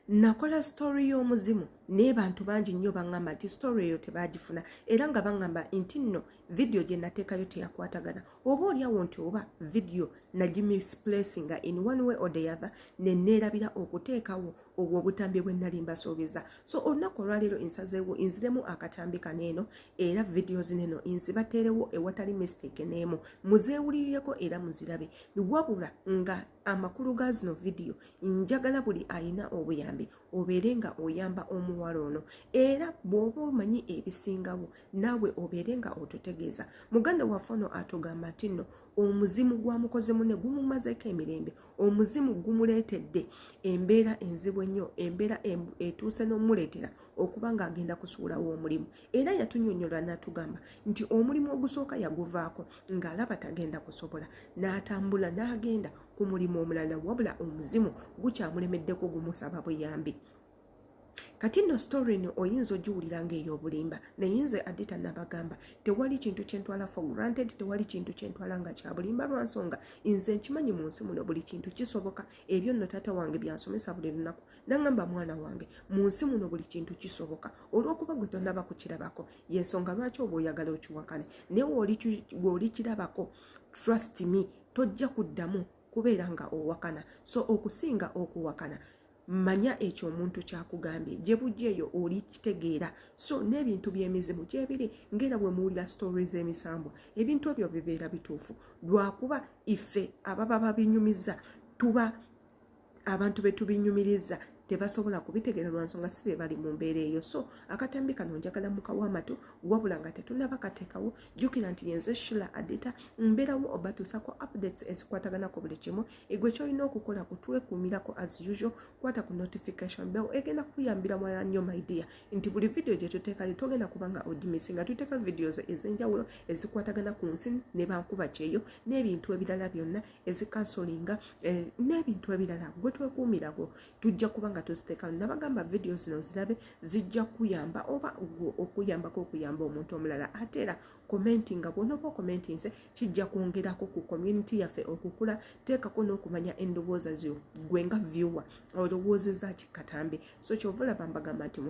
nakola story y'omuzimu naye bantu bangi nnyo baŋŋamba nti story eyo tebaagifuna era nga baŋŋamba nti nno vidiyo gye nateekayo teyakwatagana oba olyawo nti oba vidiyo nagimisplacing nga in one way or the other ne neerabira okuteekawo obwo obutambi bwe nnali mbasuubiza so olunaku olwaleero ensazeewo nziremu akatambi kano eno era vidiyo zino eno nzibateerewo ewatali mistake n'emu muzeewulirireko era muzirabe wabula nga amakulu ga zino vidiyo njagala buli alina obuyambi obeere nga oyamba omuwala ono era bw'oba omanyi ebisingawo naawe obeere nga otutegeeza muganda waffe ono atugamba nti nno omuzimu gwamukoze mune gumumazeko emirembe omuzimu gumuleetedde embeera enzibu ennyo embeera etuuse n'omuleetera okuba ng'agenda kusuulawo omulimu era yatunyonyola natugamba nti omulimu ogusooka yaguvaako ng'alaba tagenda kusobola n'atambula n'agenda ku mulimu omulala wabula omuzimu gukyamulemeddeko gumusaba buyambi kati nno story no oyinza ogiwulira nga ey'obulimba naye nze adita nabagamba tewali kintu kyentwala for granted tewali kintu kyentwala nga kyabulimba lwansonga nze nkimanyi mu nsi muno buli kintu kisoboka ebyo nno taata wange byansomesa buli lunaku nangamba mwana wange mu nsi muno buli kintu kisoboka olwokuba gwe tonaba kukirabako yensonga lwaki oba oyagala okiwakane naye weolikirabako trust me tojja kuddamu kubeera nga owakana so okusinga okuwakana manya ekyo omuntu kyakugambye gye bujja eyo oli kitegeera so n'ebintu by'emizimu gyebiri ngaera bwe muwulira sitore z'emisambwa ebintu ebyo bibeera bituufu lwakuba ife ababa babinyumiza tuba abantu betubinyumiriza tebasobola kubitegera lwansonga si bebali mu mbeera eyo so akatambi kano njagala mukawo amatu wabula nga tetunaba katekawo jukira nti yenze shila adita mbeerawo obatuusako updates ezikwatagana ku buli kimu egwe kyolina okukola kutwekumirako as usual kwata ku notification bell egenda kuyambira mwala nnyo maidia nti buli vidiyo gye tuteekayo togenda kubanga odimisi nga tuteeka vidios ez'enjawulo ezikwatagana ku nsi ne bankuba kyeyo n'ebintu ebirala byonna ezikansolinga eh, n'ebintu ebirala gwe twekuumirako tujja kuba nga tuziteekamu nabagamba vidiyo zino zirabe zijja kuyamba oba gwe okuyambako okuyamba omuntu omulala ate era komenti nga bwonoba okomenti nze kijja kwongerako ku community yaffe okukula teekako n'okumanya endowooza zo gwe nga viewer olowoozeza kikatambi so kyova olaba mbagamba nti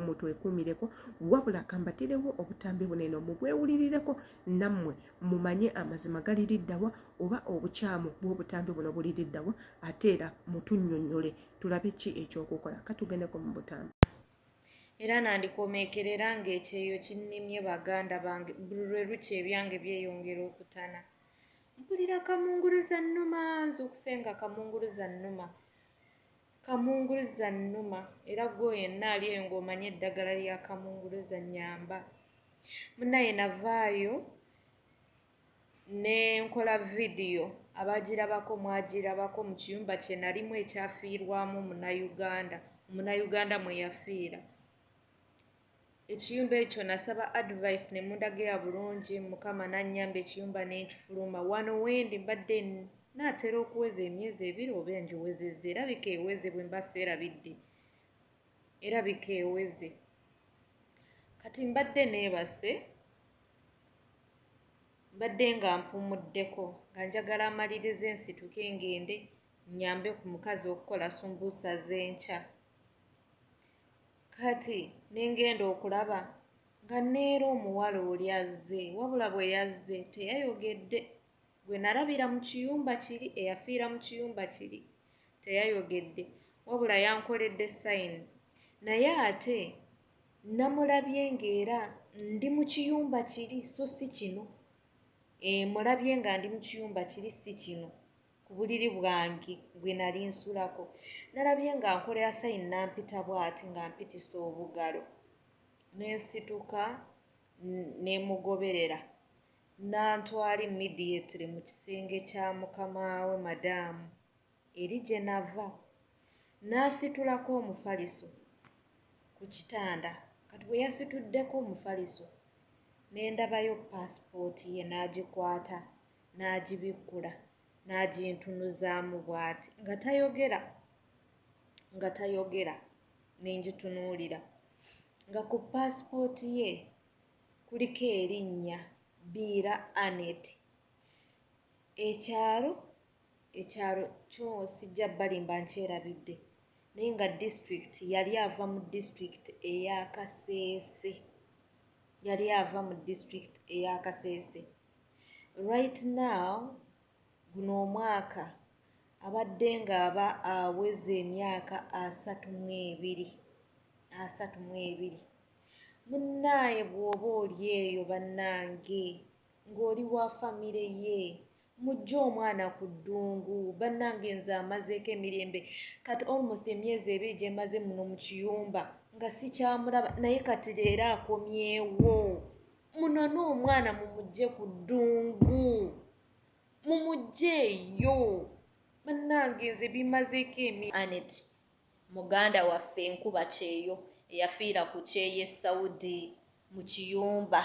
mutwekuumireko wabula kambatirewo obutambi bunene mubwewulirireko nammwe mumanye amazima gali liddawa oba obukyamu bw'obutambi buno buli liddawa ate era mutunnyonnyole tulabe ki ekyokukola katugendeko mu butambi era nandikomeekerera ng'ekyeyo kinnimye baganda bange buli lwe lukya ebyange byeyongera okutana mpulira kamunguluza nnuma nze okusenga kamunguluza nnuma Kamunguluza nnuma era gwo yenna ali eyo ng'omanyi eddagala lya kamunguluza nyamba. Munaye navaayo ne nkola vidiyo abagirabako mwagirabako mu kiyumba kye nalimu ekyafiirwamu munayuganda omunayuganda mwe yafiira. ekiyumba ekyo nasaba advice ne mundagira bulungi mukama nanyamba ekiyumba nenkifuluma wano wendi mbadde naatera okuweza emyezi ebiri oba engiwezezza erabika eweze bwe mba seerabidde erabika eweze kati mbadde neebase mbadde nga mpumuddeko nga njagala amaliriza ensituke ngende nyambe ku mukazi okukola sumbuusa z'enkya kati nengenda okulaba nga neera omuwala oli azze wabula bwe yazze teyayogedde gwe nalabira mu kiyumba kiri eyafiira mu kiyumba kiri teyayogedde wabula yankoledde sayini naye ate namulabye ng'era ndi mu kiyumba kiri so si kino emulabye eh, nga ndi mu kiyumba kiri si kino ku buliri bwange gwe nali nsulako nalabye nga nkolera sayini nampita bwati nga mpitisa obugalo nensituka nemugoberera nantwala immediately mu kisenge kya mukamaawe madaamu eri gye nava nasitulako omufaliso ku kitanda kati bwe yasituddeko omufaliso nendabayo paasipooti ye n'agikwata n'agibikkula n'agintunuzaamu bw'ati nga tayogera nga tayogera ne ngitunuulira nga ku paasipooti ye kuliko erinnya biira anet ekyalo ekyalo kyo sijja balimba nkyerabidde naye nga disitulikiti yali ava mu disitulikiti eya kaseese yali ava mu disitulikiti eya kaseese Right now guno omwaka abadde ng'aba aweza emyaka asatu mu ebiri asatu mu ebiri munnaaye bw'oba oli eyo bannange ng'oli wa famire ye mujje omwana ku ddungu bannange nze amazeeko emirembe kati almost emyezi ebiri gye maze muno mu kiyumba nga sikyamulaba naye kati leero akomyewo munone omwana mumujje ku ddungu mumujjeeyo bannange nze bimazeeko emi anet muganda waffe enkuba kyeyo eyafiira ku kyeyo e saudi mu kiyumba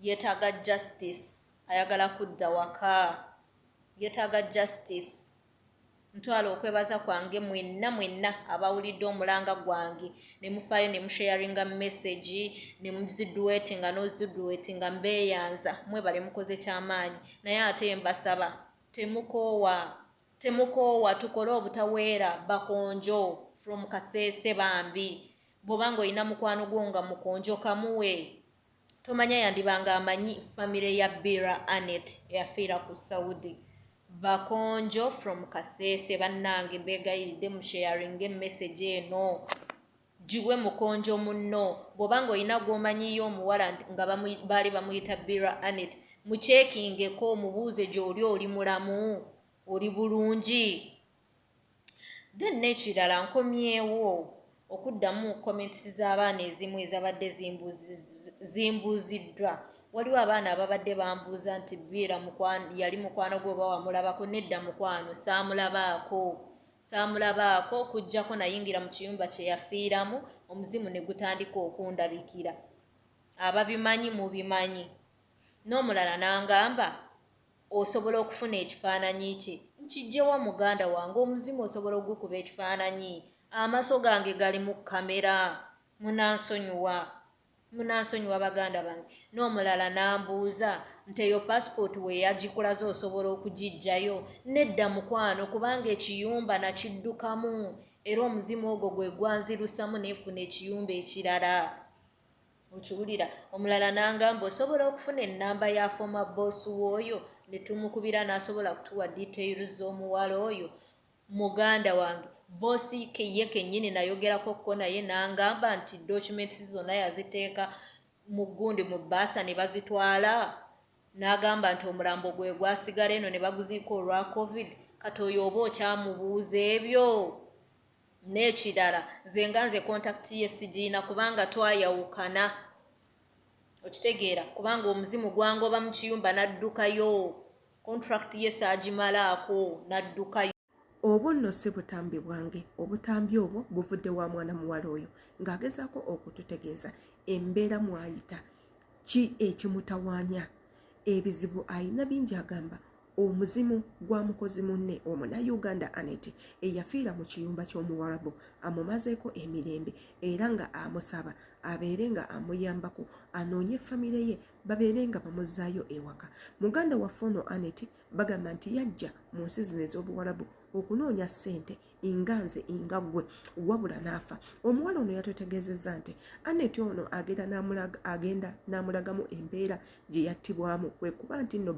yeetaaga justice ayagala kudda waka yeetaaga justice ntwala okwebaza kwange mwenna mwenna abawulidde omulanga gwange ne mufaayo ne musharinga message ne muziduweti nga noziduweti nga mbeyanza mwebale mukoze kyamaanyi naye ate mbasaba temukoowa temukoowa tukole obutaweera bakonjo from kaseese bambi bwobanga olina mukwano gwo nga mukonjo kamuwe tomanya yandiba nga amanyi famire ya bira anet eyafiira ku saudi bakonjo from kasese bannange mbegayiridde mu sharinga emessage eno giwe mukonjo munno bwoba nga olina gwomanyiyo omuwala nga baali bamuyita bira anet mukyekingeko omubuuze gyoli oli mulamu oli bulungi then n'ekirala nkomyewo okuddamu comments z'abaana ezimu ezabadde zimbuuziddwa waliwo abaana ababadde bambuuza nti biira yali mukwano gwe oba wamulabako nedda mukwano saamulabaako saamulabaako okuggyako nayingira mu kiyumba kye yafiiramu omuzimu ne gutandika okundabikira ababimanyi mubimanyi n'omulala n'angamba osobola okufuna ekifaananyi kye nkijjewa muganda wange omuzimu osobola ogukuba ekifaananyi amaso gange gali mu kamera munansonyiwa munansonyiwa baganda bange n'omulala n'ambuuza nti eyo pasipooti we yagikulaze osobola okugijjayo nedda mukwano kubanga ekiyumba nakiddukamu era omuzimu ogwo gwe gwanzirusamu neefuna ekiyumba ekirala okiwulira omulala n'angamba osobola okufuna ennamba ya fooma boosi w'oyo ne tumukubira n'asobola kutuwa detail z'omuwala oyo muganda wange boosi ye kennyini nayogerako kko naye n'angamba nti documents zonna yaziteeka mu gundi mu bbaasa ne bazitwala n'agamba nti omulambo gwe gwasigala eno ne baguziika olwa covid kati oyo oba okyamubuuza ebyo n'ekirala nze nga nze kontakiti ye sigiina kubanga twayawukana okitegeera kubanga omuzimu gwangoba mu kiyumba n'addukayo kontrakiti ye saagimalaako n'addukayo obwo nno si butambi bwange obutambi obwo buvudde wa mwana muwala oyo ng'agezaako okututegeeza embeera mwayita ki ekimutawanya ebizibu ayina bingi agamba omuzimu gwa mukozi munne omunayuganda anet eyafiira mu kiyumba ky'omuwarabu amumazeeko emirembe era nga amusaba abeere nga amuyambako anoonye famire ye babeere nga bamuzzaayo ewaka muganda waffe ono anet bagamba nti yajja mu nsi zino ez'obuwarabu okunoonya ssente inga nze inga gwe wabula n'afa omuwala ono yatutegeezezza nti aneti ono agenda n'amulagamu embeera gye yattibwamu kwe kuba nti nno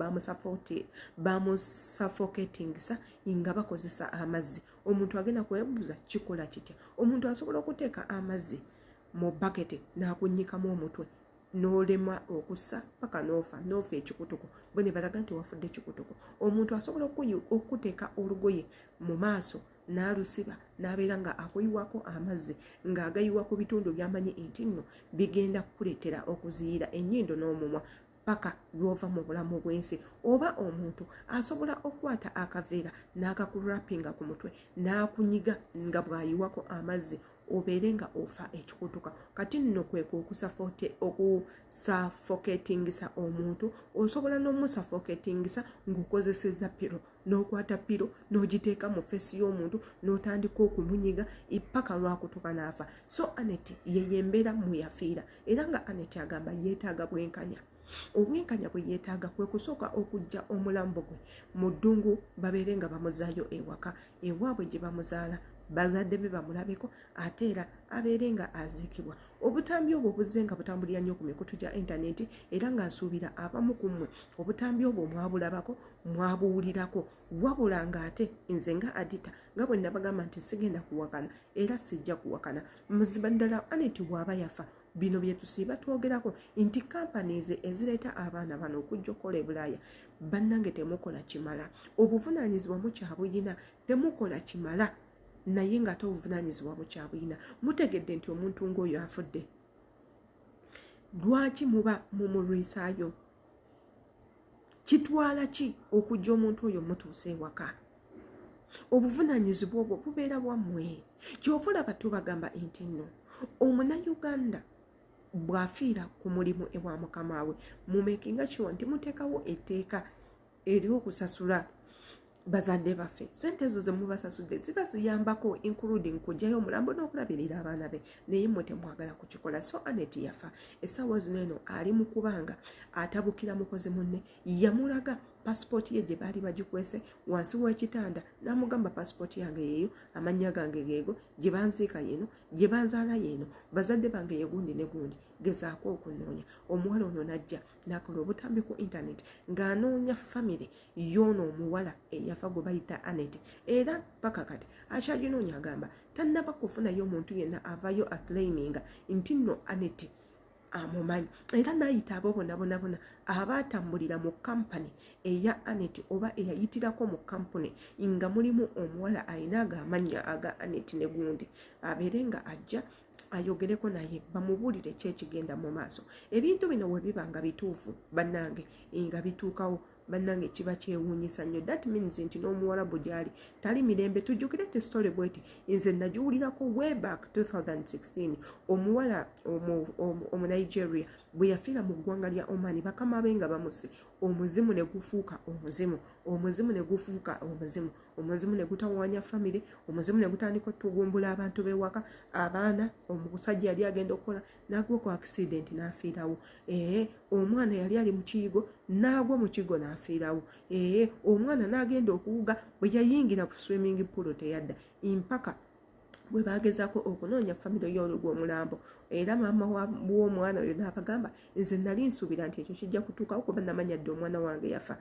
bamusafoketingisa inga bakozesa amazzi omuntu agenda kwebuuza kikola kitya omuntu asobola okuteeka amazzi mu bakete n'akunyikamu omutwe n'olema okussa paka n'ofa n'ofa ekikutuko bwe ne balaga nti wafudde ekikutuko omuntu asobola okukuteeka olugoye mu maaso n'alusiba n'abeera nga akuyiwako amazzi ng'agayiwa ku bitundu byamanyi nti nno bigenda kukuleetera okuziyira ennyindo n'omumwa paka lwova mu bulamu bw'ensi oba omuntu asobola okukwata akaveera n'akakurapinga ku mutwe n'akunyiga nga bw'ayiwako amazzi obeere nga ofa ekikutuka kati nno kweka okusafoketingisa omuntu osobola n'omusafoketingisa ng'okozeseza piro n'okwata piro n'ogiteeka mu feesi y'omuntu n'otandika okumunyiga ipaka lwakutuka n'afa so anet yeyo embeera muyafiira era nga anet agamba yeetaaga bwenkanya obwenkanya bwe yeetaaga kwe kusooka okujja omulambo gwe mu ddungu babeere nga bamuzaayo ewaka ewaabwe gye bamuzaala bazadde be bamulabeko ate era abeere nga aziikibwa obutambi obwo buzze nga butambulira nnyo ku mikutu gya intaneti era nga nsuubira abamu ku mmwe obutambi obwo mwabulabako mwabuwulirako wabula ng'ate nze nga adita nga bwe nabagamba nti sigenda kuwakana era sijja kuwakana muziba ddala aneti waaba yafa bino byetusiiba twogerako nti companies ezireeta abaana bano okujja okukola ebulaaya bannange temukola kimala obuvunaanyizibwa mukyabuyina temukola kimala naye ngaate obuvunaanyizibwa mukyabuyina mutegedde nti omuntu ngaoyo afudde lwaki muba mumulwisaayo kitwala ki okujja omuntu oyo mutuusa ewaka obuvunanyizibwa obwo bubeera bwammwe kyova olaba tubagamba nti nno omunauganda bw'afiira ku mulimu ewa mukama we mumekinga kiwa nti muteekawo etteeka eri okusasula bazadde baffe sente ezo zemubasasudde ziba ziyambako including kugyayo omulambo n'okulabirira abaana be naye mwe temwagala kukikola so anet yafa essaawa zino eno ali mu kubanga atabukira mukozi munne yamulaga pasipooti ye gye baali bagikwese wansi w'ekitanda n'amugamba pasipooti yange yeeyo amannya gange geego gye banziika yeeno gye banzaala yeeno bazadde bange yegundi ne gundi gezaako okunoonya omuwala ono najja nakola obutambi ku intaneti ng'anoonya famire yoono omuwala eyafa gwe bayita anet era paka kati akyaginoonya agamba tannaba kufunayo omuntu yenna avayo aclaiminga nti nno anet amumanyi era n'ayita abo bonabonabona abaatambulira mu kampani eya anet oba eyayitirako mu kampuni nga mulimu omuwala alina agaamannya aga anet ne gundi abeere nga ajja ayogereko naye bamubuulire ki ekigenda mu maaso ebintu bino bwe biba nga bituufu bannange nga bituukawo bannange kiba kyewuunyisa nnyo that means nti n'omuwalabu gyali tali mirembe tujjukire ti story bweti nze nagiwulirako way back 2016 omuwala omunigeria bwe yafiira mu ggwanga lya omani bakama be nga bamuse omuzimu ne gufuuka omuzimu omuzimu ne gufuuka omuzimu omuzimu ne gutawaanya famire omuzimu ne gutandika otugumbula abantu b'ewaka abaana omusajja yali agenda okukola n'agwa ku akisidenti n'afiirawo ee omwana yali ali mu kiyigo n'agwa mu kigo n'afiirawo ee omwana n'agenda okuwuga bwe yayingira ku swimming pool teyadda mpaka bwe bagezaako okunoonya famire y'olugwa omulambo era maama w'omwana oyo n'abagamba nze nali nsuubira nti ekyo kijja kutuukawo kuba namanya dde omwana wange yafa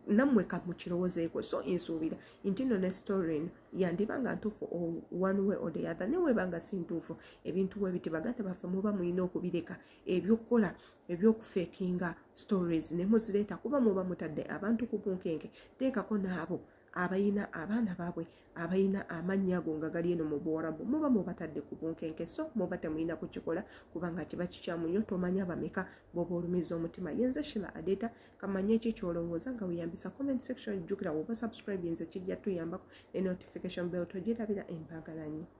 nammwe kamukirowozeeko so nsuubira intino ne story eno yandiba nga ntuufu one way or the other neweba nga si ntuufu ebintu webiti baganda baffe muba mulina okubireka ebyokukola ebyokufekinga stories ne muzireeta kuba muba mutadde abantu ku bunkenke teekako naabo abayina abaana baabwe abalina amannya ago nga gali eno mu buwarabu muba mubatadde ku bunkenke so muba temulina kukikola kubanga kiba kikyamu nnyo tomanya bameka boba olumiza omutima yenze shila adeeta kamanye ki kyolowooza nga weyambisa comment section jjukira woba subscribe nze kijja tuyambako ne notification bell togirabira embagalanyo